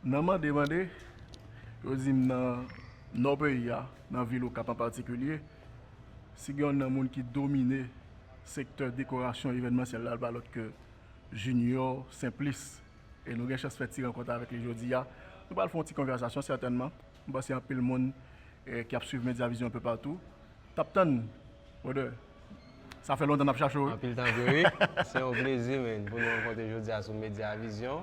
Nan mande mande, yo di m nan nò peyi a, nan vil Okap an patikilye, si gen yon nan moun ki domine sektè dekorasyon evènmansyèl la, l pa lòt ke Jinyò Senplis. E nou gen chans fè ti rankont avèk li jodi a. Nou pral fè yon ti konvèsasyon sètènman. M panse anpil moun ki ap suiv Media Vision anpe patou t ap tann Brother. Sa fè lontan n ap chache w wi. Anpil tan vre wi. Se yon plezi men pou nou rankontre jodi a sou Media Vision.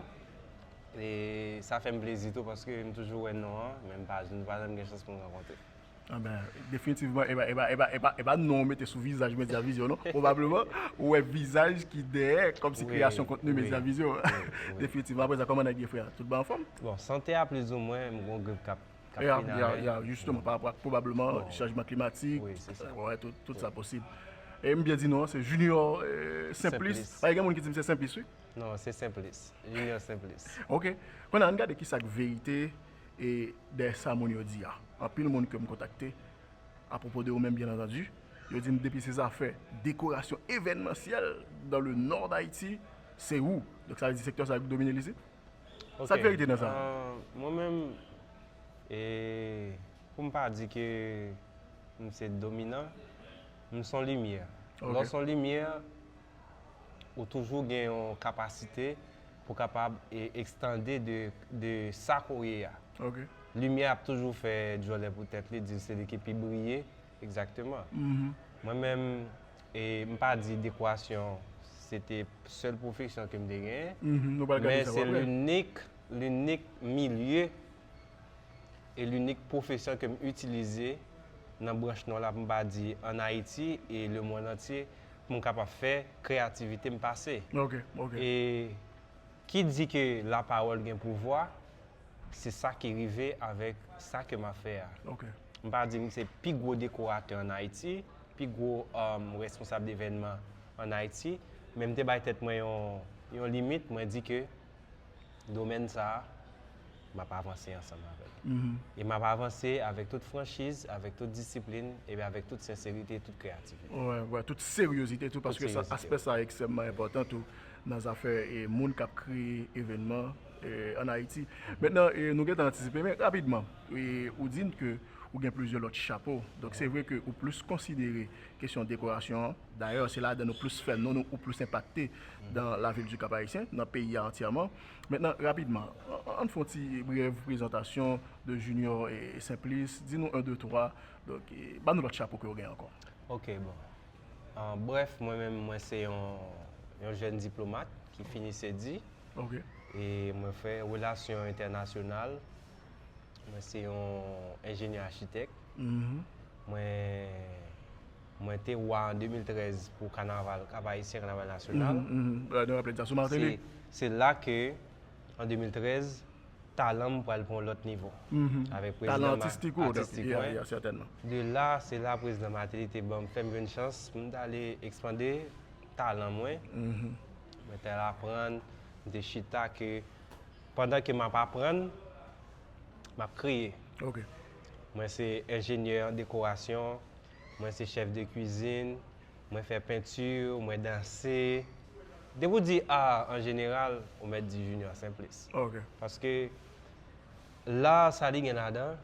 E sa fè m plezi tou paske m toujou wè non an, men m pa m pa janm gen chans pou m rankontre l. Anben, definitivman e pa e pa e pa e pa non w mete sou vizaj Media Vision non. Pwobableman ou wè vizaj ki dèyè kòmsi kreyasyon kontni Media Vision. Definitivman. Apre sa, kòman nèg yo frè? Tout bon anfòm? Bon, sante a plizoumwen, m gen yon grip k ap fin avè m. Ya, ya, jisteman, pa rapò ak pwobableman chanjman klimatik, wè, tout sa posib. E m byen di non an, se Junior Simplis. Paske gen moun ki di m se Senplis wi. Non, se Senplis. Junior Senplis. Ok. Kounye a, ann gade ki sa k verite e dèyè sa moun yo di a. Anpil moun ke m kontakte, apwopo de ou menm byen antandi, yo di m depi se zafè dekorasyon evènmansyèl dan le Nò Dayiti, se ou. Donk sa vle di sektè sa ki domine li isit? Ok. Sa k verite nan sa? Mwen menm, e pou m pa di ke m se dominan, m s on limyè. Ok. Lè w s on limyè, ou toujou gen yon kapasite pou kapab ekstande de sa ke w ye a. Limyè ap toujou fè djòlè pou tèt li, di l se li ki pi briye. Egzakteman. Mwen menm, m pa di dekwasyon se te sèl pwofesyon ke m te genyen, men se linik, linik milye e linik pwofesè ke m itilize nan branch non la pou m pa di an Ayiti e lemonn antye pou m kapab fè kreyativite m pase. E ki di ke lapawòl gen pouvwa, se sa ki rive avèk sa ke m ap fè a. M pa di m se pi gwo dekoratè an Ayiti, pi gwo responsab devènman an Ayiti, men m te bay tèt mwen yon limit, mwen di ke domèn sa a, m ap avanse ansanm avè l. E m ap avanse avèk tout franchiz, avèk tout disiplin, epi avèk tout senserite, tout kreyativite. Wè, tout seryozite tou, paske aspè sa a ekstrèmman enpòtan tou nan zafè moun k ap kreye evènman ann Ayiti. Mentnan, nou gen tan antisipe, men rapidman, ou di n ke ou gen plizyè lòt chapo, donk se vre ke ou plis konsidere kesyon dekorasyon an. Dayè, se ladan nou plis fè non nou ou plis enpakte dan lavil di Kap-Ayisyen, nan peyi a antyèman. Mentnan, rapidman, an n fè yon ti brèv prezantasyon de Junior Simplice. Di nou 1, 2, 3, donk, ba nou lòt chapo ke ou gen ankò. Ok, bon. An brèf, mwen menm, mwen se yon yon jèn diplomat ki fini CEDI. Ok. E mwen fè relasyon entènasyonal Mwen se yon enjenyè achitèk. Mwen te wa an 2013 pou kanaval Kap Ayisyen, kanaval nasyonal. Se la ke an 2013, talan m pral pou yon lòt nivo. Talan atistik ou? Atistik mwen. De la, se la prezidan Mateli te ban m, fè m jwenn chans pou m ta ale ekspande talan mwen. Mwen te al aprann, m te chita ke. Pandan ke map aprann, map kreye. Ok. Mwen se enjenyè an dekorasyon, mwen se chèf de kwizin, mwen fè penti, mwen danse. Depi ou di art an jeneral, ou mèt di Junior Simplice. Ok. Paske l'art sa li gen ladan,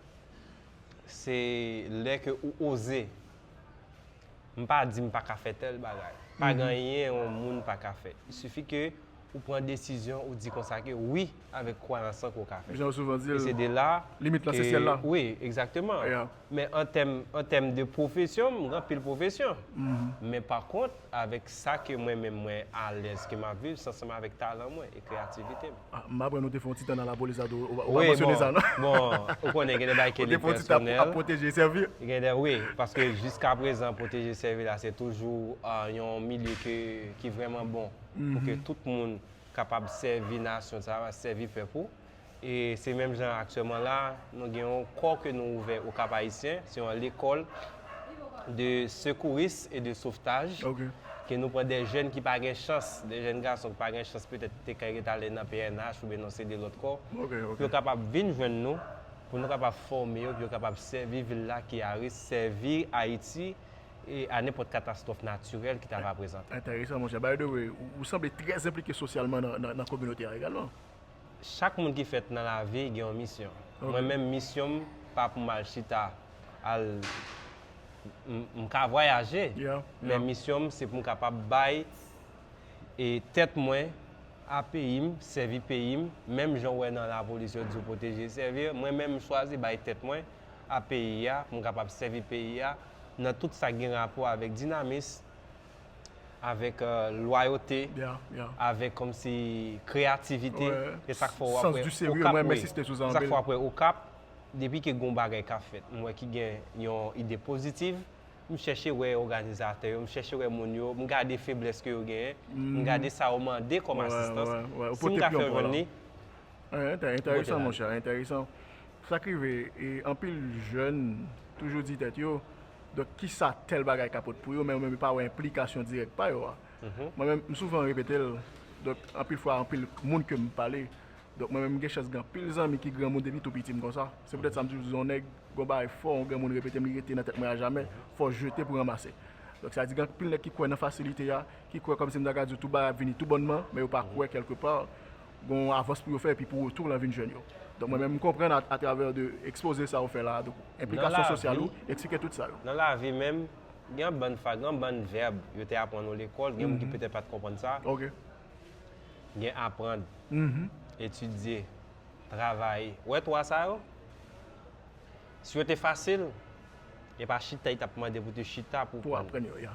se lè ke ou oze. M pa di m pa ka fè tèl bagay. Pa gen anyen yon moun pa ka fè. Il suffit ke ou pran desizyon, ou di konsa ke wi avèk kwayans lan ke w ka fè. Jan yo souvan di l, limit lan se syèl la. Wi, egzakteman. Men an tèm, an tèm de pwofesyon, m gen anpil pwofesyon. Men pa kont, avèk sa ke mwen menm mwen alèz ke m ap viv, se ansanm avèk talan mwen e kreyativite m. M aprann ou te fè yon ti tan nan lapolis la tou, ou pa mansyone sa non. Bon, ou konnen gen de bagay ke li pèsonèl. Ou te fè yon ti tan ap pwoteje e sèvi? Gen de, wi. Paske jiska prezan pwoteje e sèvi la se toujou yon milye ke, ki vrèman bon pou ke tout moun kapab sèvi nasyon sa a, sèvi pèp ou. E se menm jan aktyèman la, nou gen yon kò ke nou ouvè o Kap-Ayisyen, se yon lekòl. de sekouris e de sovtaj ke nou pran de jèn ki pa gen chans, de jèn gason ki pa gen chans petèt ki te ka ret ale nan pnh oubyen nan CD lòt kò, pou yo kapab vin jwenn nou, pou nou kapab fòme yo, pou yo kapab sèvi vil la ki a risk, sèvi Ayiti e a nenpòt katastwòf natirèl ki ta va prezante. Enteresan monchè. By the way, ou sanble trè enplike sosyalman nan kominote a egalman. Chak moun ki fèt nan lavi gen yon misyon. Mwen menm misyon m pa pou m al chita. al m ka vwayaje men misyon m se pou m kapab bay e tèt mwen a peyi m sèvi peyi m menm jan w wè nan lapolis yo di yo pwoteje e sèvi mwen menm m chwazi bay tèt mwen a peyi a pou m kapab sèvi peyi a nan tout sa k gen rapò avèk dinamis avèk lwayote avèk kòmsi kreyativite e sa k fè w wè w ap wè okap e sa k fè w ap wè okap Depi ke gon bagay kap fèt, m wè ki gen yon ide pozitiv, m chèche wè òganizatè yo, m chèche wè moun yo, m gade feblès ke yo genyen, m gade sa yo mande kòm asistans, si m ka fè jwenn li, m pote la li. Entèresan. Sa k rive, anpil jèn toujou di tèt yo, donk kisa tèl bagay ka pot pou yo, men yo menm yo pa wè enplikasyon dirèk pa yo a. Mwen menm, m souvan repete l, donk anpil fwa anpil moun ke m pale, Donk mwen menm m gen chans gen anpil zanmi ki granmoun depi tou piti m konsa. Se poutèt sa m toujou di yon nèg, gen yon bagay fò yon granmoun repete m li rete nan tèt mwen ajamè, fò jete pou ranmase. Donk sa vle di gen anpil nèg ki kwè nan fasilite a, ki kwè kòmsi m ta ka di w tout bagay ap vini tou bònman, men yo pa kwè kèlke pa gen yon avans pou yo fè epi pou retou w lan vin jwenn yo. Donk mwen menm m konprann atravè de ekspoze sa ou fè la a, donk enplikasyon sosyal ou, eksplike tout sa yo. Nan lavi menm, gen yon bann fwa, gen yon bann vèb yo te aprann nou lekòl, gen moun ki petèt pa t konprann sa, gen aprann, etidye, travay. Ou wè twa sa yo? Si yo te fasil, e pa chita li t ap mande pou te chita pou w aprann yo.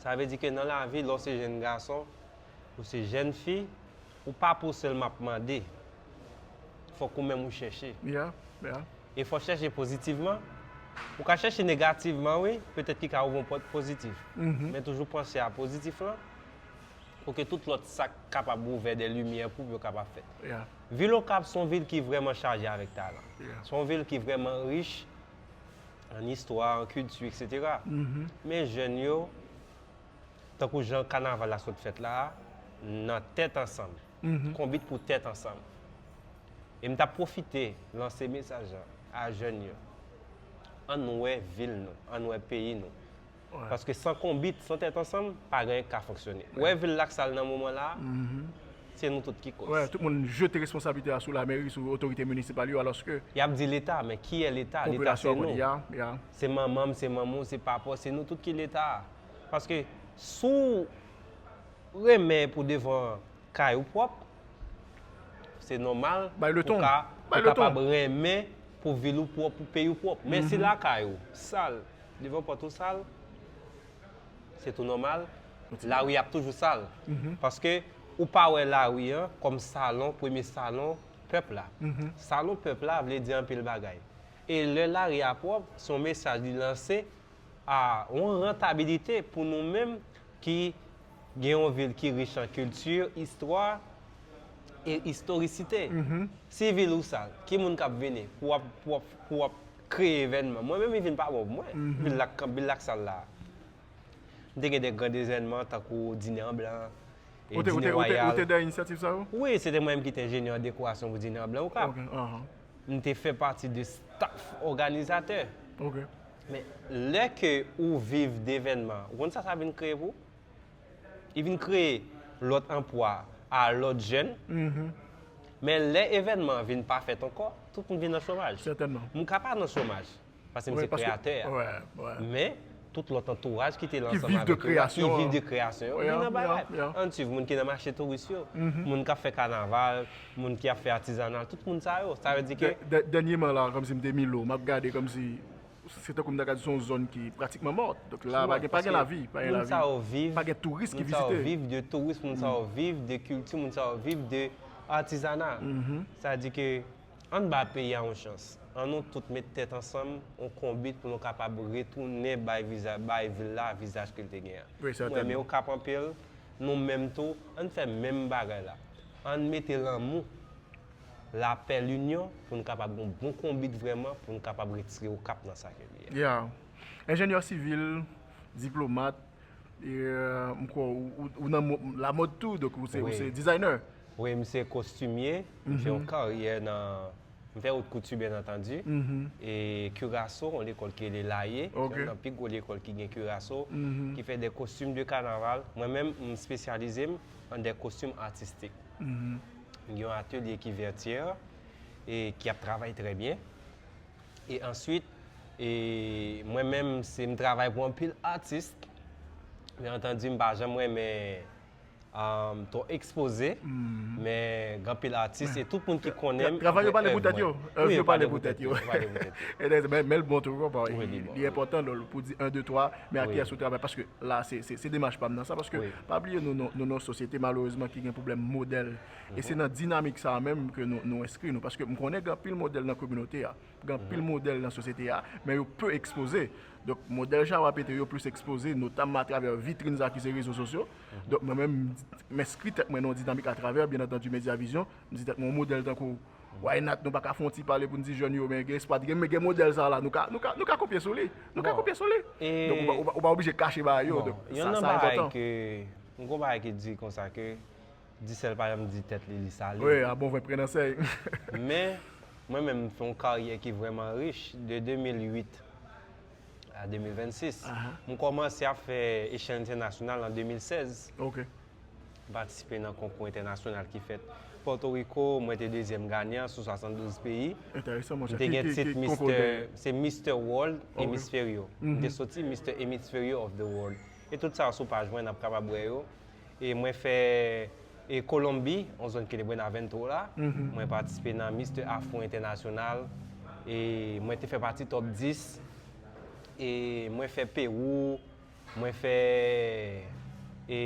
Sa vle di ke nan lavi, lè w se jenn gason, ou se jenn fi, ou pa pou w sèlman ap mande. Fòk ou menm ou chèche. E fò w chèche pozitivman. Ou ka chèche negativman wi, petèt ki ka ouvri yon pòt pozitif. Men toujou panse a pozitif lan, pou ke tout lòt sak kapab ouvè dè limyè pou yo kapab fèt. Vil Okap son vil ki vrèman chaje avèk talan. Son vil ki vrèman rich an istwa, an kilti etc. Men jèn yo, tankou jan kanaval la sot fèt la a, nan tèt ansanm, konbit pou tèt ansanm. E m tap pwofite lanse mesaj a jèn yo, ann wè vil nou, ann wè peyi nou. Paske san konbit, san tèt ansanm, pa gen anyen ki ka fonksyone. Ou wè vil la ak sa l nan moman la a, se nou tout ki kòz. Wè, tout moun jete responsablite a sou lamèri, sou otorite minisipal yo, alòske. Y ap di Leta, men ki yè Leta? Leta se nou. Se manman m, se manman w, se papa w, se nou tout ki Leta a. Paske si w renmen pou devan kay ou pwòp, se nòmal pou ka kapab renmen pou vil ou pwòp, pou peyi w pwòp. Men si lakay ou sal. Devan pòt ou sal, se tou nòmal, lari a ap toujou sal. Paske ou pa wè lari an kòm salon, premye salon pèp la. Salon pèp la vle di anpil bagay. E lè lari a pwòp, se yon mesaj li lanse a yon rantabilite pou nou menm ki gen yon vil ki rich an kilti, istwa e istorisite. Si vil ou sal, ki moun k ap vini pou w ap Kreye evènman. Mwen menm li vin pa bon pou mwen. Bil la k bil la k sal la. M te gen de grand evènman tankou dine an blan, e dine wayal. Ou te dèyè inisyativ sa yo? Wi, se te mwen menm ki te enjenyè an dekorasyon pou dine an blan okap. M te fè pati de staf òganizatè. Men lè ke ou viv de evènman, ou konn sa sa vin kreye pou ou? Li vin kreye lòt anpwa a lòt jèn. Mm-hmm. Men lè evènman vin pa fèt ankò, tout moun vin nan chomaj. Sètènman. Mwen ka pa nan chomaj, paske mwen se kreyatè a. Wè, wè. Men, tout lòt antouraj ki te la ansanm avèk yo. Ki viv de kreyasyon an. Ki viv de kreyasyon an. Vin nan bagay. Yap, yap. Ann swiv, moun ki nan mache touris yo. Mm-hmm. Moun k ap fè kanaval, moun ki ap fè atizanal, tout moun sa yo. Sa vle di ke. Dènyeman la, kòmsi m te Milo, m ap gade kòmsi Se tankou m ta ka di se yon zòn ki pratikman mòt. Donk la pa gen pa gen lavi. Pa gen lavi. Moun sa yo viv. Pa gen touris ki vizite. Moun sa yo viv de touris. Moun sa yo viv de kilti. Moun sa yo viv de atizana. Sa di ke an n ba peyi a yon chans. An nou tout met tèt ansanm, yon konbit pou nou kapab retounen bay viza, bay vil la vizaj ke l te gen an. Wi sètènman. Mwen renmen Okap anpil. Nou menm tou, an n fè menm bagay la. An n mete lanmou. lapè, linyon pou n kapab gen yon bon konbit vrèman pou n kapab retire Okap nan sa ke li ye. Ya. Enjenyè sivil, diplomat, e m kwè ou nan lamòd tou, donk ou se dizayner. Wi, m se kostimye, m fè yon karyè nan, m fè out kouti byen antandi, e Kiraso, yon lekòl ki rele Laye, se yon nan pi gwo lekòl ki gen Kiraso, ki fè de kostim de kanaval, mwen menm m spesyalize m an de kostim atistik. gen yon atelye ki vètyè e ki ap travay trè byen e answit e mwen menm se m travay pou anpil atis byen antandi m pa janm renmen anm twò ekspoze men gen anpil atis e tout moun ki konnen m travay yo pale pou tèt yo èv yo pale pou tèt yo men l bon tou li enpòtan pou di 1 2 3 men a kiyès ou travay paske la se demach pam nan sa paske pa bliye nou nou nou sosyete malerezman ki gen pwoblèm modèl e se nan dinamik sa menm ke nou enskri nou paske m konnen gen anpil modèl nan kominote a gen anpil modèl nan sosyete a men yo pe ekspoze donk modèl Jawap ete yo plis ekspoze notamman atravè vitrin sa ki se rezo sosyo donk mwen menm m enskri tèt mwen nan yon dinamik atravè byen antandu Media Vision m di tèt mwen yon modèl tankou Why not nou pa ka fè yon ti pale pou n di jèn yo men gen espwa gen gen modèl sa la nou ka nou ka nou ka kopye sou li nou ka kopye sou li e donk ou pa ou pa oblije kache bagay yo donk sa sa enpòtan. Bon, yonn nan bagay ke m gen yon bagay ki di konsa ke Dicel pa janm di tèt li li sale. Wi, a bon vre pren nan sèy. Men, mwen menm m fè yon karyè ki vrèman rich de 2008 a 2026. M kòmanse ap fè echèl entènasyonal an 2016. Ok. m patisipe nan konkou entènasyonal ki fèt Pòtoriko, mwen te dezyèm ganyan sou 72 peyi. Enteresan monchè. M te gen tit Mister, se Mister World Hemisferio. M te soti Mister Hemisferio of the World. E tout sa yo sou paj mwen, n ap kapab wè yo. E mwen fè e Kolonbi, yon zòn ki rele Buenaventro la, mwen patisipe nan Mister Afro Entènasyonal, e mwen te fè pati top 10. E mwen fè Pewou, Mwen fè e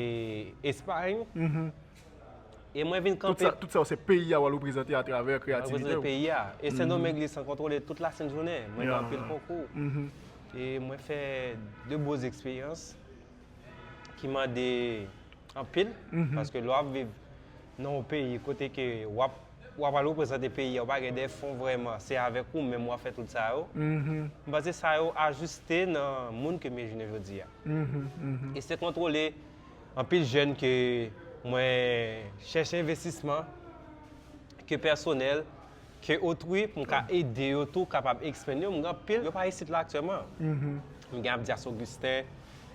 Espagne. E mwen vin kanpe. Tout sa, tout sa se peyi a wal reprezante a travè kreyativite ou. Mwen reprezante peyi a. E Sen Domeng li san kontwole tout la sent jounen. Mwen nan anpil konkou. E mwen fè de boz eksperyans ki mande anpil. Paske lè wap viv nan yon peyi kote ke wap. Wap al reprezante peyi a ou pa gen de fon vreman se avek ou menm wap fe tout sa yo m panse sa yo ajuste nan moun ke mye jounen jodi a e se kontrole anpil jen ke mwen cheche investisman ke personel ke otri pou m ka ede yo tou kapab expand yo m gen anpil yo pa isit la aktyelman m gen abdias augustin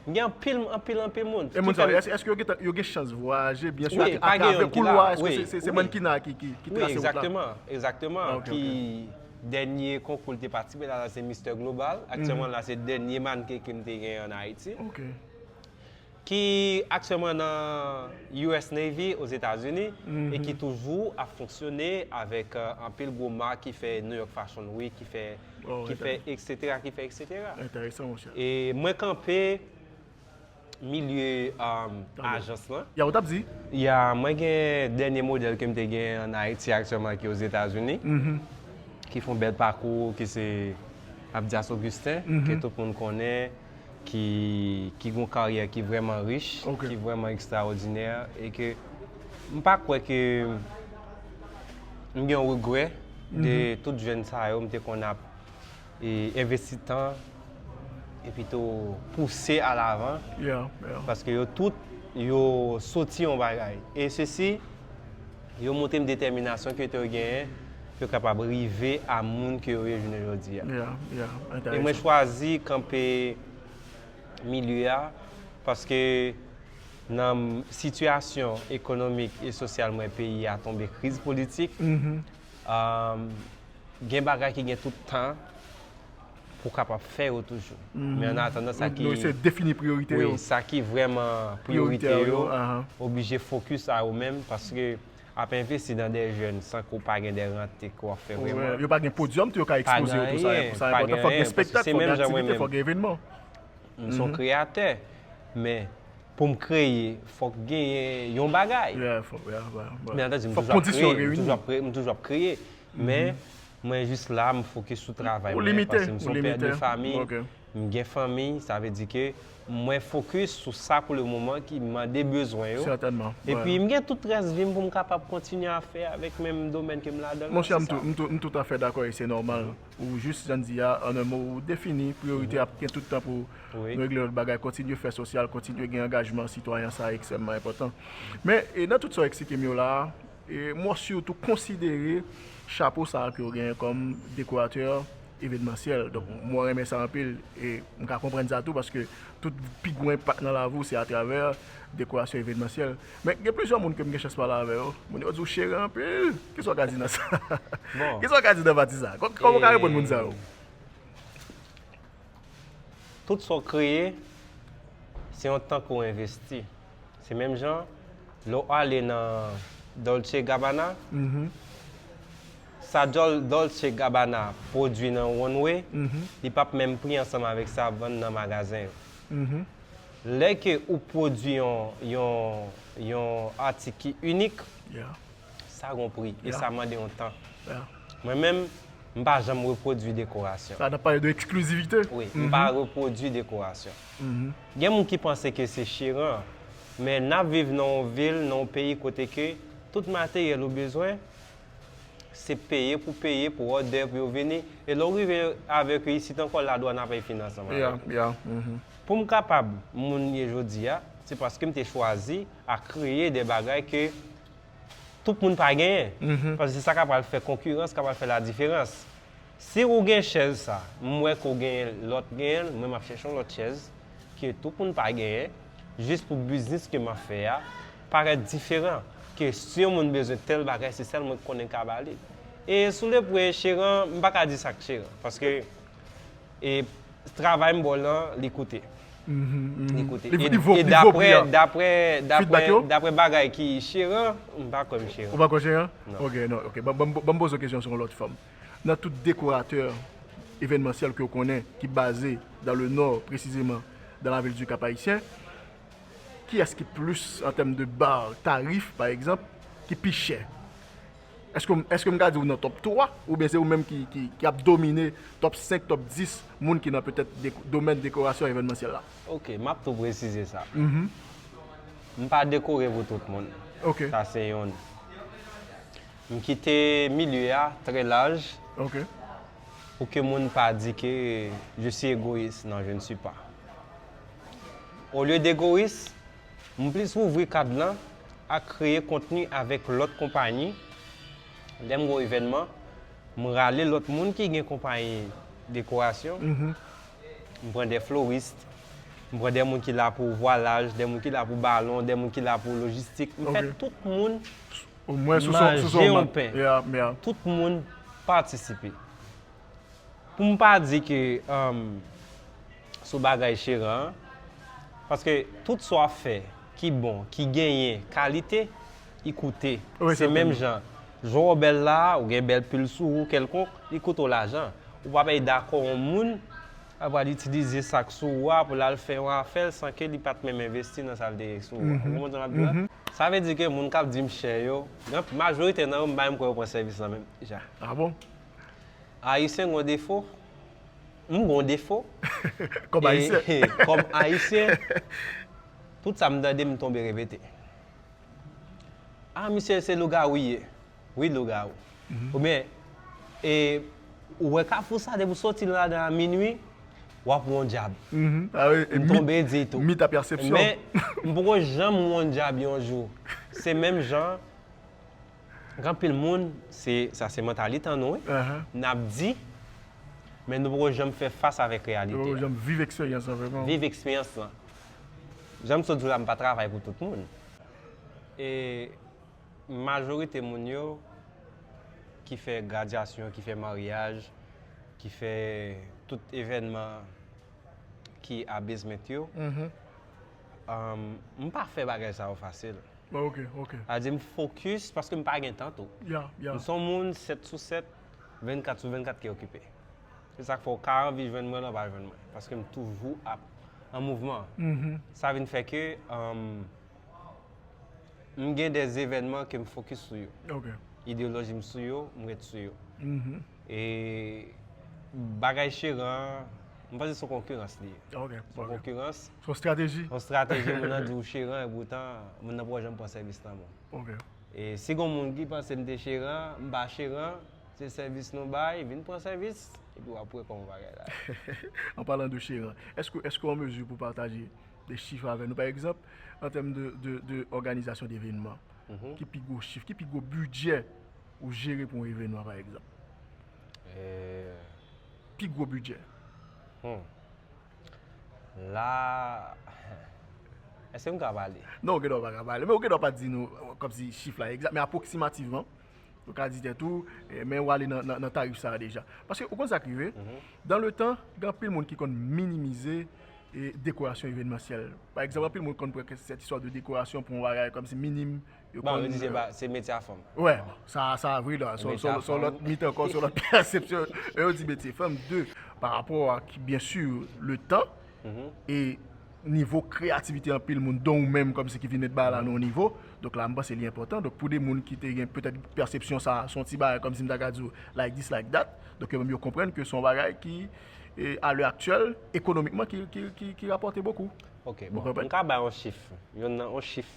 Gen anpil, anpil, anpil moun. E moun sa yo, èske yo gentan, yo gen chans vwayaje, byen sou, atravè koulwa, èske se, se mannequinat ki, ki trase wout la? Wi, egzakteman, egzakteman, ki dènye konkou li te patisipe la, se Mister Global, aktyèlman la se dènye mannequin ke m te gen an Ayiti. Ok. Ki aktyèlman nan US Navy, Ozetazini, e ki toujou ap fonksyone avèk anpil gwo mak ki fè New York Fashion Week, ki fè. ki fè eksetera, ki fè eksetera. Enteresan mon chè. E mwen kanpe milye ajans lan. Ya ou tap di? Ya mwen gen dènye modèl ke m te gen an Ayiti aktyèman ki Ozetazini. Ki fon bèl pakou ki se Abdias Augustin ke tout moun konnen. ki gen yon karyè ki vrèman rich, ki vrèman ekstraòdinè, e ke m pa kwè ke m gen yon regrè de tout jèn sa yo m te konn ap envesti tan, e pito pouse a lavan, paske yo tout yo soti yon bagay, e sesi. Yo montre m detèminasyon ke te genyen pou yo kapab rive a moun ke yo ye jounen jodi a. E mwen chwazi kanpe milye a paske nan sitiyasyon ekonomik e sosyal mwen peyi a tonbe kriz politik, gen bagay ki gen tout tan. pou kapab fè yo toujou. Men an atandan sa ki. Yo eseye defini priyorite yo. Wi, sa ki vrèman priyorite yo, oblije fokus a yo menm, paske ap envesti nan de jèn san ke w pa gen de rante ke w ap fè vreman. Yo pa gen podyòm tou yo ka ekspoze yo tou sa enpotan. Pa gen anyen, fòk gen espektak, fòk gen aktivite, fòk gen evenman. M son kreyatè, men pou m kreye, fòk genyen yon bagay. Fòk kondisyon reyini. M toujou ap kreye. Men, mwen jis la, m fokis sou travay mwen, paske m se yon pè de fami, m gen fanmi, sa vle di ke mwen fokis sou sa pou le moman ki mande bezwen yo, epi m gen tout rès vi m pou m kapab kontinye a fè avèk menm domèn ke m ladan l la, se sa. Monchè, m toutafè dakò e se nòmal, ou jis, jan n di a, an en mo, ou defini priyorite ap gen tout tan pou nou regle lòt bagay, kontinye fè sosyal, kontinye gen angajman sitwayan, sa ekstrèmman enpòtan. Men, nan tout sa w eksplike m yo la a, Mwen sitou konsidere chapo sa ke w genyen kòm dekoratè evenmansyèl. Donk mwen renmen sa anpil e m ka konprann sa tou paske tout pi gwo enpak nan lavi w se atravè dekorasyon evenmansyèl. Men gen plizyè moun ke m gen chans pale avè yo, moun yo di w chere anpil. Kisa w ka di nan sa? Kisa w ka di nan pati sa? Kòman w ka reponn moun sa yo? Tout sa w kreye se yon tan ke w envesti. Se menm jan, lè w ale nan Dolce Gabbana, sa Dolce Gabbana pwodui nan Runway, li p ap menm pri ansanm avèk sa y ap vann nan magazen yo. Lè ke ou pwodui yon atik ki inik, sa gen yon pri e sa mande yon tan. Mwen menm, m pa janm repwodui dekorasyon. Sa n ap pale de eksklizivite? Wi. M pa repwodui dekorasyon. Gen moun ki panse ke se chiran, men nap viv nan yon vil, nan yon peyi kote ke tout materyèl ou bezwen, se peye pou peye pou òdè pou yo vini, e lè ou rive avèk yo isit ankò la dwàn ap fè fin ansanm avèk ou. Pou m kapab moun m ye jodi a, se paske m te chwazi a kreye de bagay ke tout moun pa genyen, paske se sa ka pral fè konkirans, ka pral fè ladiferans. Si ou gen chèz sa, m wè ke w gen lòt gen l, mwen m ap chèche yon lòt chèz ke tout moun pa genyen, jis pou biznis ke m ap fè a parèt diferan, ke si yon moun bezwen tèl bagay se sèl mwen ki konnen ka ba li. E sou lepwen, cheran, m pa ka di sa k cheran, paske. E travay m bol lan li koute. Li koute. Li vo pri an. E daprè, daprè, daprè bagay ki cheran, m pa kwè m cheran. Ou pa kwè w cheran? Non. Ok, non, ok. Ban m poze w kesyon sou yon lòt fòm. Nan tout dekoratè evènmansyèl ke w konnen ki baze dan le nò, presizeman dan lavil di Kap Ayisyen, kiyès ki plis an tèm de bar, tarif pa egzanp, ki pi chè? Eske m ka di ou nan top 3 oubyen se ou menm ki ap domine top 5, top 10 moun ki nan petèt domèn dekorasyon evènmansyèl la? Ok, m ap tou presize sa. M pa dekore pou tout moun. Sa se youn. M kite milye a trè laj pou ke moun pa di ke je si egoyis. Non, je ne suis pas. Olye d'egoyis, M plis ouvri kad lan ak kreye kontni avèk lòt konpayi, lè m gwo evènman, m rale lòt moun ki gen konpayi dekorasyon, m pran dè florist, m pran dè moun ki la pou vwalaj, dè moun ki la pou balon, dè moun ki la pou lojistik, m fè tout moun manje yon pen, tout moun patisipe. pou m pa di ke sou bagay cheran an, paske tout sa w ap fè ki bon, ki genyen kalite, li koute. Se menm jan, jwè w bèl la a, ou gen bèl pil sou ou kèlkonk, li koute w lajan. Ou pa pe dakò yon moun ap pral itilize sa k sou ou a pou l al fè yon afè l san ke li pa t menm envesti nan sa l te gen sou ou a. Ou konprann sa m ap di la? Sa vle di ke moun k ap di m chè yo, majorite nan yo m pa menm kwè yo pran sèvis la menm deja. Ayisyen gon defo, m gon defo. Kòm Ayisyen. E kòm Ayisyen, tout sa m tande m tonbe repete. A misye se lougawou li ye. Wi lougawou. Oubyen, e ou wè kafou sa depi w soti ladan a minui, w ap wè yon dyab. M tonbe di tou. Mit a pèsepsyon. Men, m poko janm wè yon dyab yon jou. Se menm jan. Gen pil moun, se sa se mantalit an nou wi, nap di, men nou poko janm fè fas avèk reyalite a. Nou poko janm viv eksperyans lan vrèman. Viv eksperyans lan. Janm sot di w la m pa travay pou tout moun. E majorite moun yo ki fè gradyasyon, ki fè maryaj, ki fè tout evènman ki a bezment yo, M pa fè bagay sa yo fasil. A di m fokis paske m pa gen tan tou. M son moun 7 sou 7, 24 sou 24 ki okipe. Se sa k fè w ka anvi jwenn mwen nan pa jwenn mwen. Paske m toujou ap an mouvman. Sa vin fè ke m gen de evènman ke m fokis sou yo. Ideyoloji m sou yo, m ret sou yo. E bagay cheran an, m panse son konkirans li ye. Ok. Son konkirans. Son strateji. Son strateji moun nan di ou cheran e poutan moun nan poko janm pran sèvis nan men w. Ok. E si gon moun ki panse m te cheran, m pa cheran, se sèvis nou bay, vin pran sèvis epi w ap wè kòman bagay la ye. An palan de cheran, èske w an mezi pou pataje de chif avè nou? Pa egzanp, an tèm de òganizasyon devenman, ki pi gwo chif, ki pi gwo bidjè? Ou jere pou yon evenman pa egzanp. Pi gwo bidjè. Hum. La Eske m ka pale? Non ou gen dwa ou pa ka pale. Men ou gen dwa pa di nou kòmsi chif la egzat. Men apwoksimativman, ou ka di tèt ou, men ou ale nan tarif sa a deja. Paske ou konn sa k rive, dan le tan, gen anpil moun ki konn minimize dekorasyon evenmansyèl. Pa egzanp, anpil moun konn pran sèt istwa de dekorasyon pou yon bagay kòmsi minim. Yo Bon, yo di se konn pa, se metye a fanm. Wè, sa a, sa a vre dan. Se Son, metye a son, son fanm. lòt mit ankò, son lòt pèsepsyon. E yo di metye fanm, de, pa rapò ak, byen si, le tan, e nivo kreyativite anpil moun, don ou menm kòmsi ki vin met bagay la nan yon nivo. Donk la, m panse li enpòtan. Donk pou de moun ki te gen petèt pèsepsyon sa a, se yon ti bagay kòmsi m ta ka di w like this, like that. Donk yo menm yo konprann ke se yon bagay ki, e a lè aktyèl, ekonomikman ki, ki, ki, ki rapòte bokou. Ok, Ou bon, konprann? m ka bay yon chif, yon nan, yon chif.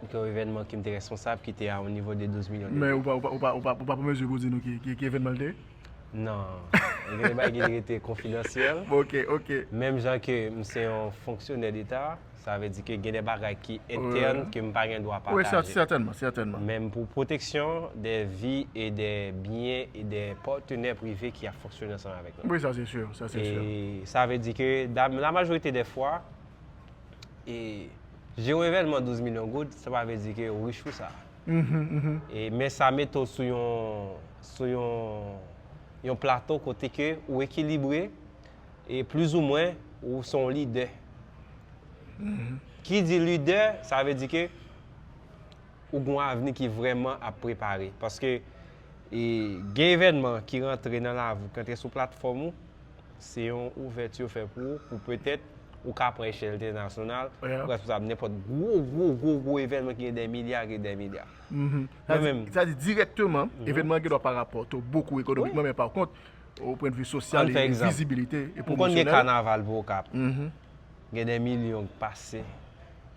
ke yon evènman ke m te responsab ki te a yon nivo de 12 milyon de Men vues. ou pa ou pa ou pa pran mezi pou w di nou ki ki ki evènman l te ye? Non. Gen de bagay ki dwe rete konfidansyèl. Bon ok ok. Menm jan ke m se yon fonksyonè deta, sa vle di ke gen de bagay ki entèn ke m pa gen dwa pataje. Wi sè sètènman sètènman. Men pou pwoteksyon de vi e de byen e de patenè prive ki ap fonksyone ansanm avèk nou. Wi sa se sur sa se sur. E sa vle di ke da la majorite de fwa e Jere yon evènman 12 milyon goud, sa pa vle di ke ou rich pou sa. E men sa mete w sou yon, sou yon, yon plato kote ke ou ekilibre e plis ou mwen ou se yon lidè. Ki di lidè, sa vle di ke ou gen yon avni ki vrèman ap prepare. Paske gen evènman ki rantre nan lavi w, ki rantre sou platfòm ou. Se yon ouvèti yo fè pou ou, pou petèt ou ka pran echèl entènasyonal, ou ka responsab nenpòt gwo, gwo, gwo, gwo evènman ki gen dè milya ak dè milya. Mwen menm. Sa di dirèkteman, evènman an gen dwa pa rapòte w bokou ekonomikman, men pa kont, o pwen de vi sosyal e vizibilite e pwomosyonèl. Ann fè egzanp. Ou konn gen kanaval pou Okap. Gen dè milyon ki pase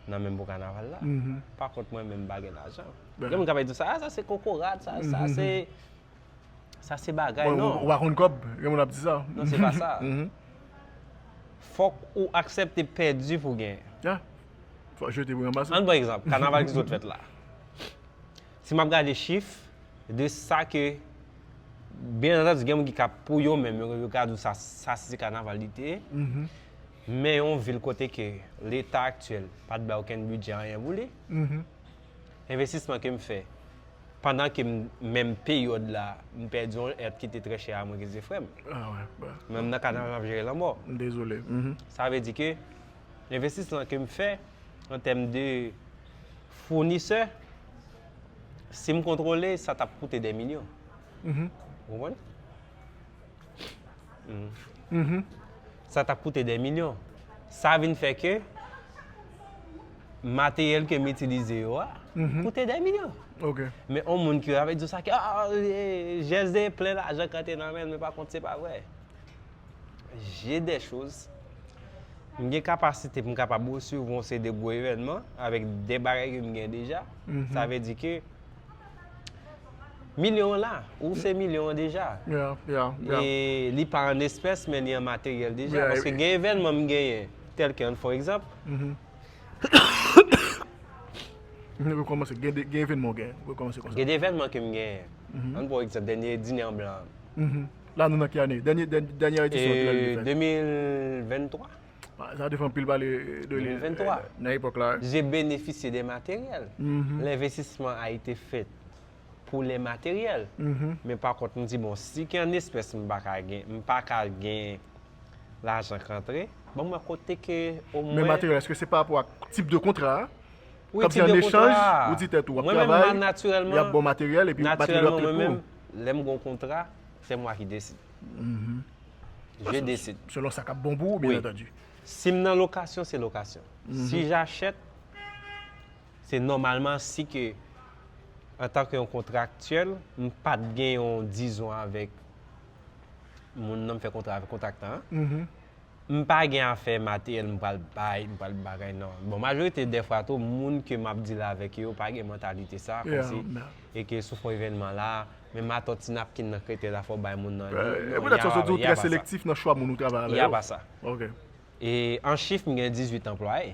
nan menm pou kanaval la. Pa kont mwen menm m pa gen lajan. Gen moun k ap di sa a, sa se kokorat, sa a, sa a se. Sa se bagay non. Ou pa konn kòb, gen moun ap di sa. Non se pa sa. Fòk ou aksepte pèdi pou genyen. Ya. Fòk jete pou ranmase. An pran egzanp, kanaval ki sot fèt la. Si m ap gade chif de sa ke, byen antandi gen moun ki ka pou yo menm yo ka di w sa sa se kanaval li te ye. Men yon vil kote ke leta aktyèl pa t bay okenn bidjè anyen pou li. Envestisman ke m fè pandan ke m menm peryòd la m pèdi yon èt ki te trè chè a mwen ke se frè m. Men m nan kad nan jan m ap jere lanmò. Sa vle di ke envestisman ke m fè an tèm de founisè si m kontwole sa t ap koute dè milyon. Ou konprann? Sa ta koute dè milyon. Sa vin fè ke materyèl ke m itilize yo a koute dè milyon. Men yon moun ki ap di w sa ke JSD plen lajan ki rantre nan men l men pa kont se pa vre. Jè dè choz, m gen kapasite pou m kapab resevwa yon seri de gwo evènman avèk dè bagay ke m gen deja. Sa vle di ke. Milyon an la, ou se milyon an deja. Ya, ya, ya. E li pa an espès men li an materyèl deja. Ya, ya. Paske gen evènman m genyen, tèlke an fò egzanp. Mwen rekòmanse, gen evènman ou genyen, rekòmanse konsa. Gen evènman ke m genyen. An fò egzanp, dènye Dine an Blan an. La nou nan ki ane? Dènye edisyon an ki lal li fèt? 2023. Sa te fè anpil pale de li nan epòk la. Je benefisye de materyèl. Lenvestisman a ete fèt pou le materyèl. Men pa kont m di bon si ki an espès m pa ka gen, m pa ka gen lajan k antre. Ban mwen kote ke o mwen. Men materyèl eske se pa rapò ak tip de kontra a? Wi tip de kontra a. Kòm si an echanj ou di tèt ou ap travay. Mwen menm natirèlman. Y ap ba w materyèl epi materyèl yo ap trete pou ou. Natirèlman mwen menm lè m gen yon kontra se mwa ki desi. Je desid. Selon sa kap bon pou ou byen antandi. Si m nan lokasyon se lokasyon. Si jachèt se nòmalman si ke antan ke yon kontraktyèl m pat gen yon dizon avèk moun nan m fè kontra avèk kontraktan an. M pa gen afè materyèl m pral bay, m pral bagay nan. Bon majorite dèfwa tou moun ke m ap dil avèk yo pa gen mantalite sa, kòmsi e ke sou fon evènman la, menm atò ti napkin nan krete la fò w bay moun nan li, non, y a pa sa. Y a pa sa. Y a pa sa. E an chif m gen 18 anplwaye.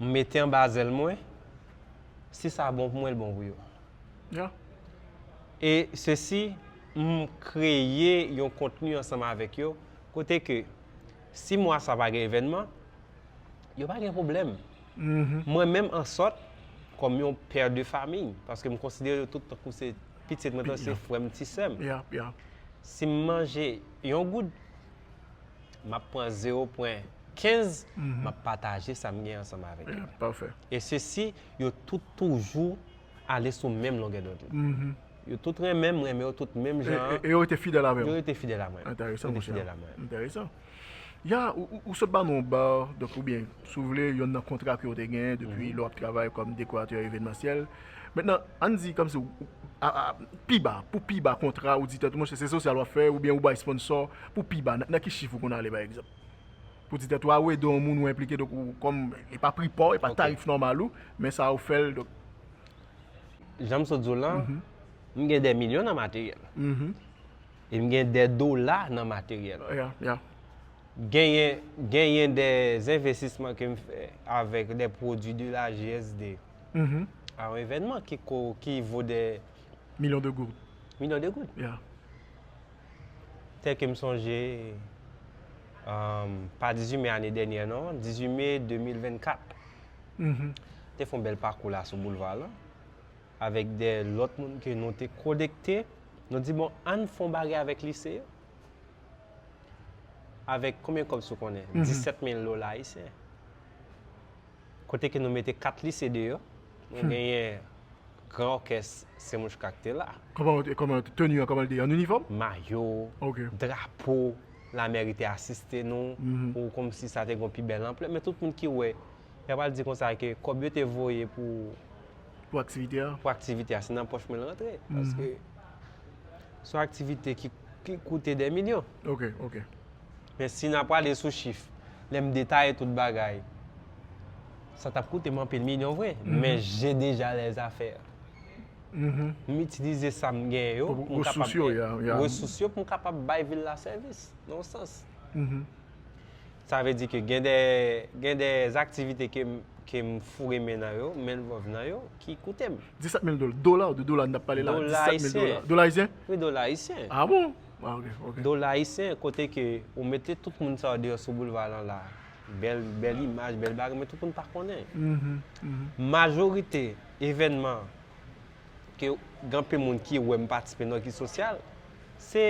M mete anba zèl mwen, si sa bon pou mwen, l bon pou yo. Yeah. E sesi, m kreye yon kontni ansanm avèk yo, kote ke si mwa sa pa gen evènman, yo pa gen pwoblèm. Mwen menm an sòt, kòm yon pè de famiy, paske m konsidere yo tout tankou se pitit mwen, tankou se frè m, ti sè m. Yeah, yeah. Si m manje yon goud, map pran 0 pwen 15 map pataje sa m gen ansanm avèk yo. Pafè. E sesi yo tout toujou ale sou menm longè dond li. Yo tout renmen m, m renmen yo tout menm jan an. E yo rete fidèl avè w. Yo rete fidèl a mwen. Enteresan mouche. Yo rete fidèl a mwen. Enteresan. Ya, ou sot ba nou yon ba, donk oubyen, si w vle, yonn nan kontra ke w te gen depi lè w ap travay kòm dekoratè evenmansyèl. Mentnan, ann di kòmsi ou, a, a, pi ba, pou pi ba kontra ou di tèt ou monchè se sosyal w ap fè oubyen ou bay sponsò pou pi ba, nan ki chif ou konn ale pa egzanp? Pou di tèt ou a ou ede yon moun ou enplike donk ou kòm e pa pri pa w, e pa tarif nòmal ou, men sa ou fè l donk. Jan m sot di w lan, m gen dè milyon nan materyèl. E m gen dè dola nan materyèl. Ya, ya. Genyen, genyen dè envestisman ke m fè avèk dè pwodui de la GSD. Mm-hmm. A yon evènman ki ko, ki vo dè. Milyon de goud. Milyon de goud? Ya. Tèl ke m sonje, pa 18 me ane dènyè non, 18 me 2024. Mm-hmm. Te fon bèl pakou la sou boulva lan, avèk dè lòt moun ke nou te konekte, nou di bon ann fon bagay avèk lise yo. Avèk konbyen kòb sou konnen? Mm-hmm. 17 mil dola ayisyen. Kote ke nou mete 4 lise deyò, nou genyen gran òkès Semuchka ki te la. Kòman teni an, kòman li te ye? An inifòm? Mayo, drapo, lamèri te asiste nou, ou kòmsi sa te gen yon pi bèl anplè. Men tout moun ki wè, yo pral di konsa ke kòb yo te voye pou. Pou aktivite a. Pou aktivite a, se nan pòch mwen l rantre. Paske, son aktivite ki. ki koute dè milyon. Ok, ok. Men si na prale sou chif, lè m detaye tout bagay, sa tap koute m anpil milyon vre, men je deja lèz afè. M itilize sa m gen yo, resous yo pou m kapab bay vil la sèvis, nan yon sans. Sa vle di ke gen dè aktivite ke m foure men nan yo, men vòv nan yo. Ki koute m. 17 mil dola. Dola ou de dola n tap pale la? Dola ayisyen. Dola ayisyen? Wi dola ayisyen. A bon? A ok, ok. Dola ayisyen kote ke ou mete tout moun sa yo deyò sou boulva lan la. Bèl, bèl imaj, bèl bagay men tout moun pa konnen. Majorite evènman ke gen anpe moun ki wè m patisipe nan vi sosyal, se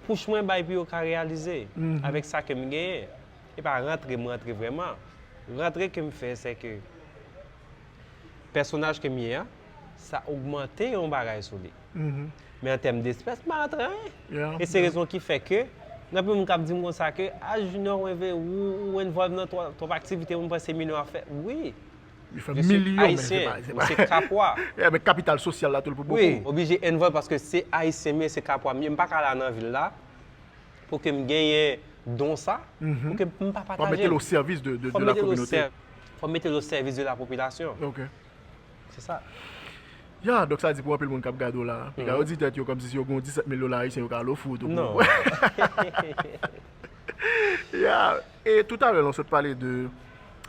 pouch mwen bay pou yo ka reyalize avèk sa ke m genyen. E pa rantre m rantre vrèman. Rantre ke m fè se ke. pèsonaj ke m ye a, sa ogmante yon bagay sou li. Men an tèm despès, m pa rantre anyen. E se rezon ki fè ke, gen anpil moun k ap di m konsa ke, a Junior mwen ve ou, ou envòlv nan twòp aktivite mwen panse Mino ap fè. Wi. Li fè milyon men se pa. Ayisyen, mwen se kapwa. E men kapital sosyal la tou l pou bokou. Wi, oblije envòlv paske se Ayisyen m ye, se kapwa m ye, m pa ka la nan vil la. Pou ke m genyen don sa, pou ke m pa pataje l. Fò mete l o sèvis de la kominote. Fò mete l o sèvis de la popilasyon. Ok. Se sa. Ya, donk sa di pou anpil moun k ap gade w la, yo ka di tèt yo kòmsi si yo gen yon 17 mil dola ayisyen yo ka al ofri w tou. Non. Ya, e toutalè la w sot pale de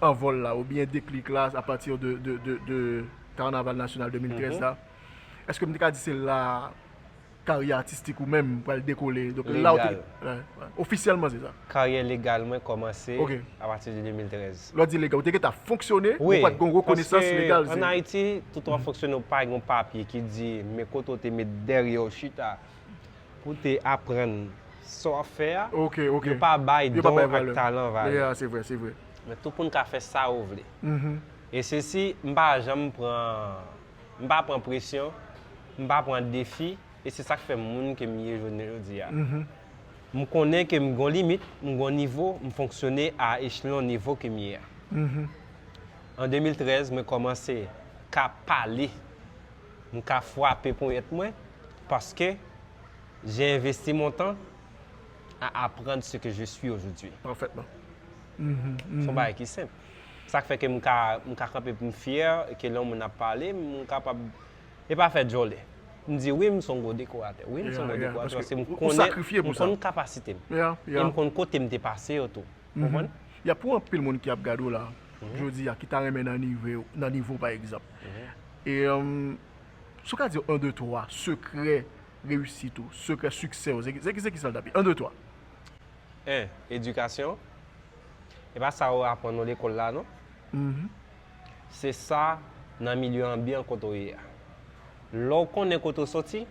anvòl la oubyen deklik la a pati de Karnaval Nasyonal 2013 la. Eske m te ka di se la Karyè atistik ou menm pral dekole. Legal. Ofisyèlman se sa. Karyè legal mwen kòmanse apati de 2013. Lè w di legal, ou te gentan ap fonksyone, men ou pa t gen yon rekonesans legal. Paske an Ayiti, tout ou ap fonksyone ou pa gen yon papye ki di men kote ou te met dèryè w chita pou w te aprann sa w ap fè a. Yo pa bay don ak talan valè. Men tou pou n ka fè sa ou vle. E sesi, m pa janm pran. M pa pran presyon, m pa pran defi, e se sa k fè m moun ke m ye jounen jodi a. M konnen ke m gon limit, m gon nivo, m fonksyone a echlon nivo ke m ye a. An 2013 mwen kòmanse ka pale, m ka fwape ponyèt mwen, paske jè envesti mon tan a aprann se ke je swi ojodwi. Pafètman. Se yon bagay ki senp. Sak fè ke m ka m ka kanpe pou m fyè ke lè yon moun ap pale m m kapab e pa fè djòlè m di wi m son gwo dekoratè wi m son gwo dekoratè paske m konnen m konn kapasite m e m konn kote m te pase yo tou ou konprann. Ya pou anpil moun ki ap gade w la jodi a ki ta renmen nan nive w nan nivo w pa egzanp e si w ka di yo 1 2 3 sekrè reyisit ou sekrè siksè w se ki se ki sa l ta pi 1 2 3. 1, Edikasyon. E pa sa yo aprann nou lekòl la non. Se sa nan milye anbyan kote w ye a. Lè w konnen kote w soti,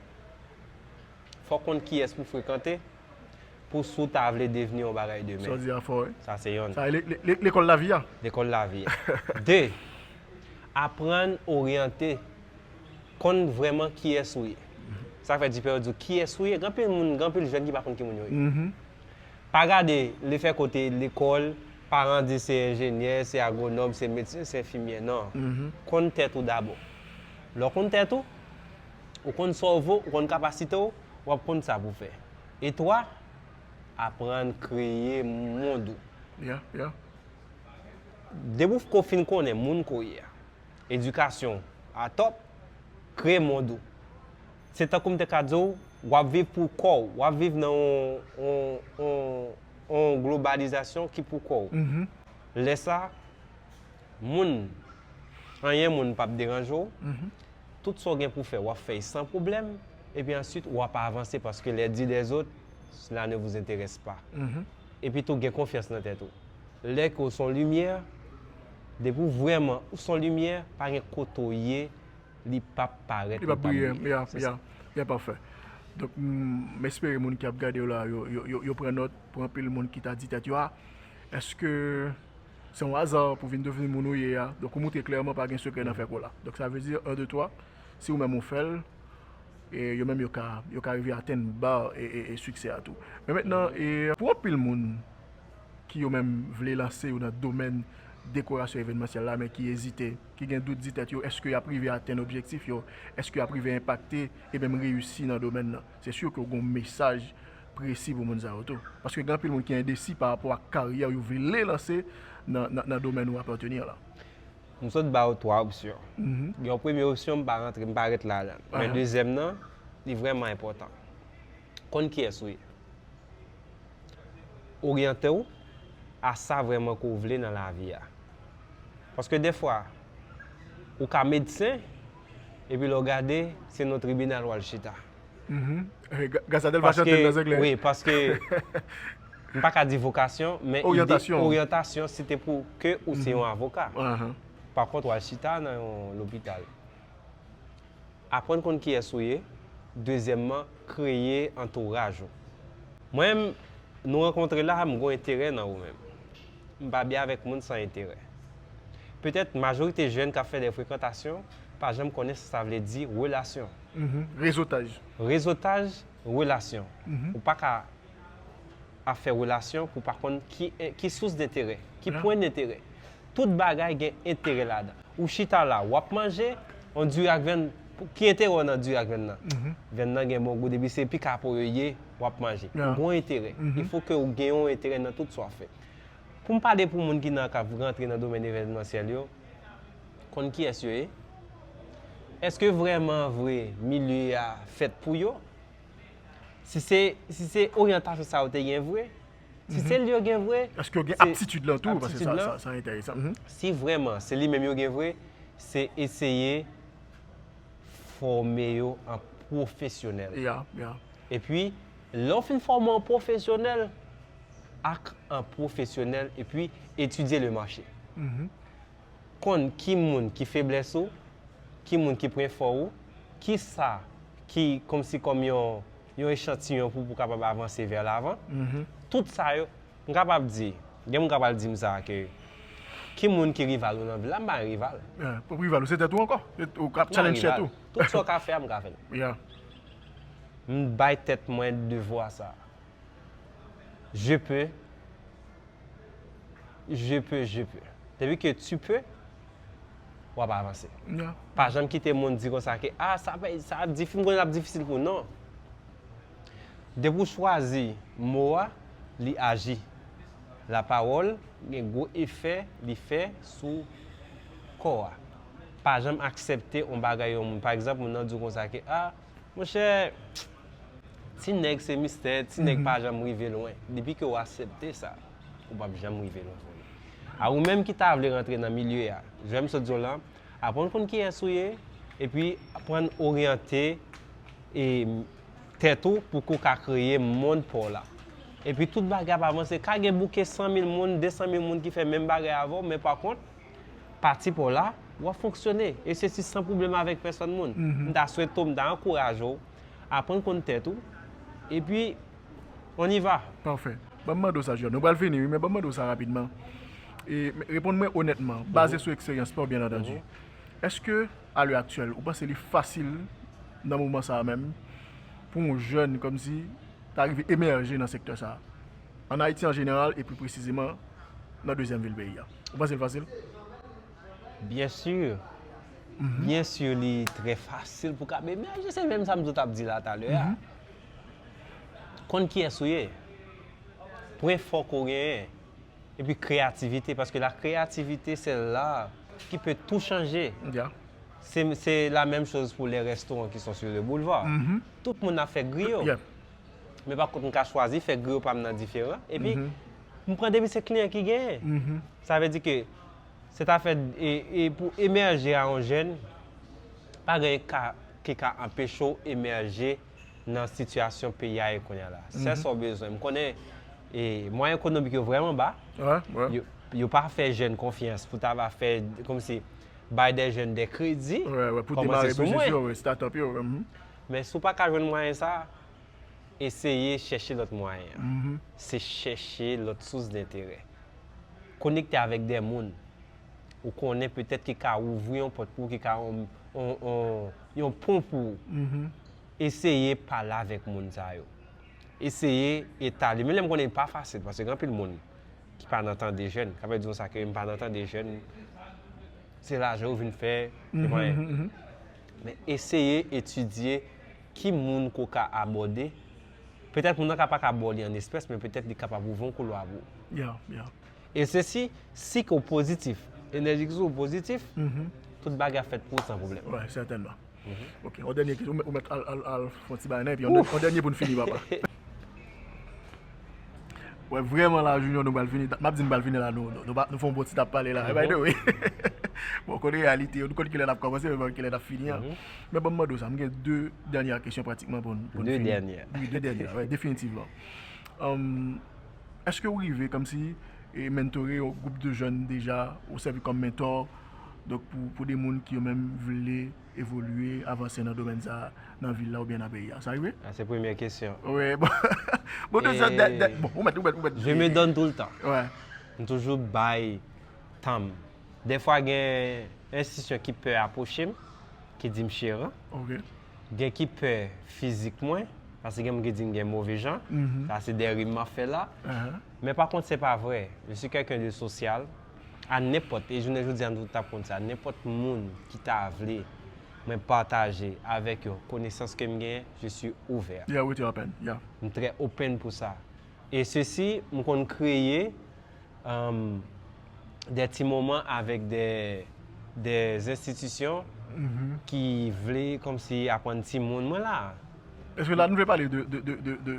fò w konn kiyès pou w frekante pou si w ta vle devni yon bagay demen. Sa w di a fò wi. Sa se yonn. Sa e lekòl lavi a. Lekòl lavi a. De, aprann oryante, konn vrèman kiyès ou ye. Sa k fè di pè yo di w kiyès ou ye? Gen anpil moun, gen anpil jèn ki pa konn ki moun yo ye. Pa gade li fè kote lekòl, paran di se enjenyè, se agwonòm, se medsen, se enfimyè nan. Konn tèt ou dabò. Lè w konn tèt ou, ou konn sa w vo, ou konn kapasite w, w ap konn sa pou w fè. E 3, aprann kreye mond ou. Depi w ko fin konnen moun ko ye a, edikasyon w a tòp, kreye mond ou. Se tankou m te ka di w, w ap viv pou kò w. W ap viv nan yon globalizasyon ki pou kò w. Lè sa, moun, anyen moun p ap deranje w. Tout sa w gen pou w fè, w ap fè l san pwoblèm. Epi ansuit, w ap avanse paske les dit des autres, cela ne vous interesse pas. Epi tou, gen konfyans nan tèt ou. Lè ke w se yon limyè, depi w vrèman, ou se yon limyè, pa gen kote w ye. li pap parèt li pap briye. Ya pafè donk m espere moun ki ap gadew la yo pran nòt pou anpil moun ki ta di tèt yo a eske se yon aza pou vin devni moun ou ye a donk ou moutre klèman pa gen sekrè nan fè kola donk sa vle di 1 2 3 si ou menm ou fèl e yo menm yo ka yo ka rive atenn bar e siksè a tou men mentnan pou anpil moun. ki yo menm vle lanse yo nan domèn dekorasyon evenmansyèl la men ki ezite, ki gen dout di tèt yo èske y ap rive atenn objektif yo, èske y ap rive enpakte e menm reyisi nan domèn nan. Se si ke w gen yon mesaj presi pou moun sa yo tou. Paske gen anpil moun ki endesi pa rapò ak karyè yo vle lanse nan domèn ou apateni an lan. M sot ba ou 3 opsyon. Gen yon premye opsyon m pa rantre, m pa ret ladan l. Men dezyèm nan, li vrèman enpòtan. Konn kiyès ou ye? Oryante w a sa vrèman ke w vle nan lavi a. Paske defwa, ou ka medsen, epi lè w gade, se nan tribinal w al chita. Paske, wi, paske, m pa ka di vokasyon, men ide, oryantasyon, se te pou ke ou se yon avoka. Pakont, w al chita nan yon lopital. Aprann konn kiyès ou ye. Dezyèmman, kreye antouraj ou. Mwen menm, nou rankontre la, m gon enterè nan ou menm. M pa byen avèk moun san enterè. Petèt, majorite jèn k ap fè dè frekantasyon pa janm konnen sa sa vle di relasyon. Rezotaj. Rezotaj, relasyon. Ou pa ka ap fè relasyon pou w pa konn ki sous denterè, ki pwen denterè. Tout bagay gen enterè ladan. Ou chita la, wap manje yon diri ak vyann, ki enterè w nan diri ak vyann nan? Vyann nan gen bon gou depi se pi ka po yo ye, wap manje. Yon bon enterè. Il fo ke ou gen yon enterè nan tout sa wap fè. Pou m pale pou moun ki nan kap rantre nan domèn evènmansyèl yo, konn kiyès yo ye? Eske vrèman vre milye a fèt pou yo? Si se, si se oryantasyon sa yo te gen vre, Si se li yo gen vre, Èske yo gen aptitid lan tou? Paske sa sa enteresan. Si vrèman se li menm yo gen vre, se eseye fòme yo an pwofesyonèl. Epi, lè w fin fòme w an pwofesyonèl, ak an pwofesyonèl, epi etidye le mache. Konn ki moun ki feblès ou, ki moun ki pwen fò ou, ki sa ki kòmsi kòm yon yon echantiyon pou pou kapab avanse vè lavan. Tout sa yo, m kapab di, gen moun k ap al di m sa ke ki moun ki rival ou nan vil la, m pa yon rival. Rival ou se tèt ou ankò, ou k ap challenge tèt ou. Tout sa w ka fè a m ka fè l. M bay tèt mwen devwa sa. Je peux, je peux, je peux. Depi ke tu peux, wap avanse. Pa janm kite moun di konsa ke a sa pa sa ap difi m konnen lap difisil pou non. Depi w chwazi mo a li aji. La pawòl gen gwo efè li fè sou kò a. Pa janm aksepte on bagay yon moun. Pa egzanp moun nan di w konsa ke a. Monchè, ti nèg se mistè, ti nèg pa janm rive lwen. Depi ke ou asepte sa, ou pap janm rive lwen frè m. A ou menm ki ta vle rantre nan milye a, jwenm sot di w lan, aprann konn kiyès ou ye, epi aprann oryante e tèt ou pou ke w ka kreye mond pa w la. Epi tout bagay ap avanse. Ka gen bouke 100 mil moun, 200 mil moun ki fè menm bagay avè w, men pa kont, Pati paw la, wap fonksyone e sesi san pwoblèm avèk pèsòn moun. M ta swete w, m ta ankouraje w, aprann konn tèt ou, epi on y va. Pafè. Banm mande w sa Juan, nou pral fini wi men banm mande w sa rapidman. E reponn mwen onètman, baze sou ekseryans paw byen antandu. Eske a lè aktyèl ou panse li fasil nan moman sa menm pou on jèn kòmsi ta rive emèje nan sektè sa? An Ayiti an jeneral e pli presizeman nan dezyèm vil peyi a. Ou panse l fasil? Byen sur. Byen sur li trè fasil pou Kabeer. Men je se menm sa m di w t ap di la talè a. Konn kiyès ou ye. Pwen fò ke w genyen. Epi kreyativite. Paske la kreyativite se l'art ki pe tou chanje. Ya. Se, se la menm choz pou les restaurants qui sont sur le boulevard. Tout moun ap fè griyo. Ya. Men pa kont m ka chwazi fè griyo pa m nan diferan. Epi. M pran depi se kliyan ki genyen. Sa vle di ke se ta fè e pou emèje a yon jèn, pa gen ka ki ka anpeche w emèje nan sitiyasyon peyi a ye kounye a la. Sèl sa w bezwen. M konnen e mwayen ekonomik yo vrèman ba, yo pa fè jèn konfyans pou ta va fè kòmsi bay dè jèn dè kredi, kòmanse sou mwen. Men si w pa ka jwenn mwayen sa a. Eseye chèche lòt mwayen an, se chèche lòt sous denterè. Konekte avèk de moun ou konnen petèt ki ka ouvri yon pòt pou ou, ki ka yon pon pou ou. Eseye pale avèk moun sa yo. Eseye etale, menm lè m konnen li pa fasil, paske gen anpil moun ki pa nan tande jèn, k ap di yon sa ke m pa nan tande jèn, se lajan yo vin fè, se mwayen. Men eseye etidye. Ki moun ke w ka abòde? Petèt moun nan ka pa ka ba w li an espès, men petèt li kapab ouvri yon koulwa pou ou. E se si sik ou pozitif, enèji ki sou ou pozitif, tout bagay ap fèt pou ou san pwoblèm. Wi, sètènman. Ok, yon dènye kesyon, ou mèt al fè yon ti bagay nan, epi yon dènye pou n fini papa. Wè vreman la junior nou bal fini map di nou bal fini la nou nou fon bon ti tap pale la by the way bon konnen realite yo nou konn kilè nap komanse nou pa konn kilè nap fini an men banm mande w sa m gen 2 dènyè kesyon pratikman pou nou fini 2 dènyè wi 2 dènyè wi definitivman eske ou rive kòm si mentore yon gwoup de jèn deja ou sèvi kòm mentor donk pou de moun ki yo menm vle evolye, avanse nan domèn sa a nan vil la oubyen nan peyi a? Sa rive? Ah se premyè kesyon. Wi bon Bon tout sa dè dè bon ou mèt ou mèt ou mèt Je me donne tout le temps. Wi. M toujou bay tan m. Dèfwa gen enstitisyon ki pè apwoche m, ki di m chè ran. Ok. Gen ki pè fizik mwen, paske gen moun ki di m gen move jan. Sa se dè rim m ap fè la. Ahan. Men pa kont se pa vrè. Je suis quelqu'un de social. a nenpòt, e jounen jodi a nou tout ap konn sa, nenpòt moun ki ta vle mwen pataje avèk yo konesans ke m genyen, je suis ouvert. Yeah, ou rete open, yeah. M trè open pou sa. E sesi, m konn kreye des ti moman avèk des institutions ki vle kòmsi aprann timoun, mwen la. Eske la nou vle pale de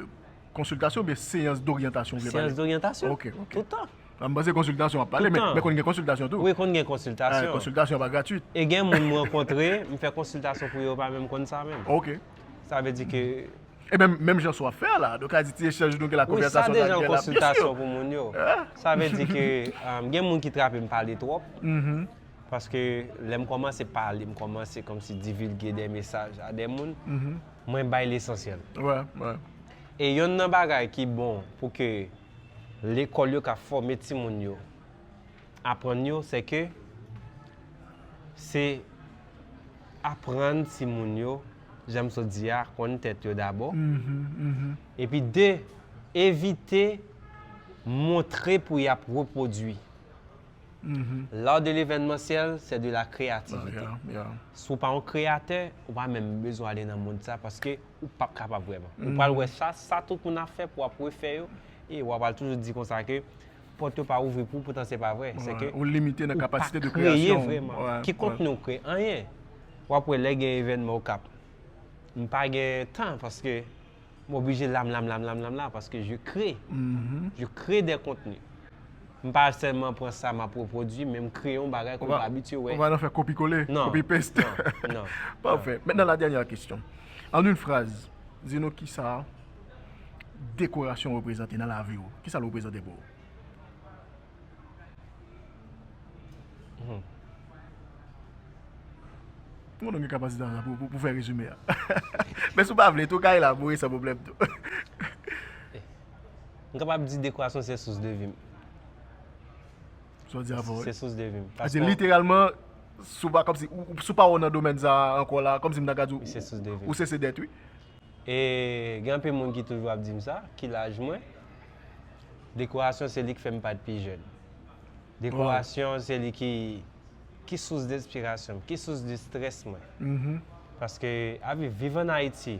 konsiltasyon oubyen seyans doryantasyon ou vle pale? Seyans doryantasyon, tout tan. Nan m panse konsiltasyon wap pale men konn gen konsiltasyon tou. Wi konn gen konsiltasyon. Konsiltasyon pa gratwit. E gen moun m rankontre m fè konsiltasyon pou yo pa menm konn sa menm. Ok. Sa vle di ke. E menm menm jan sa wap fè a la nou ka di ti echanj nou gen la konvèsasyon nan gen la. Wi sa deja yon konsiltasyon pou moun yo. Sa vle di ke gen moun ki trape m pale twòp. Paske lè m kòmanse pale m kòmanse kòmsi divilge de mesaj a de moun. Mwen bay lesansyèl. Wè wè. E yonn nan bagay ki bon pou ke. lekòl yo ka fòme timoun yo, aprann yo se ke se aprann timoun yo jan m sot di a konn tèt yo dabò epi de evite montre pou y ap repwodui. L'art de l'événementiel c'est de la créativité. Si w pa yon kreyatè, ou pa menm bezwen ale nan mond sa paske. ou pap kapab vrèman. Ou pral wè sa, sa tout moun ap fè pou ap refè yo, e wa pral toujou di konsa ke pòt yo pa ouvri pou ou poutan se pa vrè. Se ke Ou limite nan kapasite de kreyasyon. Ou pa kreye vrèman. Ki kontni ou kreye? Anyen. Wap wè lè gen evènman Okap, m pa gen tan paske m oblije la m la m la m la m la m la paske je kre. Je kre de kontni. M pa sèlman pran sa m ap repwodui, men m kreye yon bagay ke m pa abitye wè. Ou pa nan fè kopi kole, kopi paste? Non, non. Pafè. Mentnan la dènyè kesyon. An yn fraz, di nou kisa dekorasyon reprezante nan lavi ou. Kisa l reprezante pou ou? M konnen w gen kapasite sa pou fè rezime a. Men si w pa vle tou, w ka elaborer san pwoblèm tou. M kapab di dekorasyon se sous de vi m. Sa w di a vrè wi. Se sous de vi m. Sa w di literalman, si w pa kòm si, si w pa wè w nan domèn sa a ankò la, kòm si m ta ka di w, ou se se dèt wi. E gen anpil moun ki toujou ap di m sa, ki laj mwen, dekorasyon se li k fè m pat pi jèn. Dekorasyon se li ki, ki sous de enspirasyon m, ki sous de strès mwen. Paske avi, viv an Ayiti.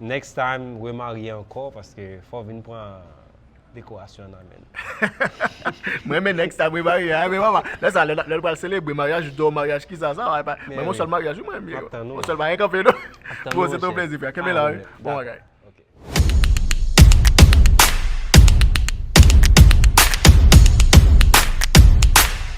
Next time remarye ankò paske fò vin pran dekorasyon nan menn. M renmen next time remarye a men papa lè sa lè nou pral selebre maryaj ou do maryaj kisa sa a epa m renmen yon sèl maryaj wi m renmen yo yon sèl bagay kanpe non bro se te yon plezi frè kenbe la wi bon bagay.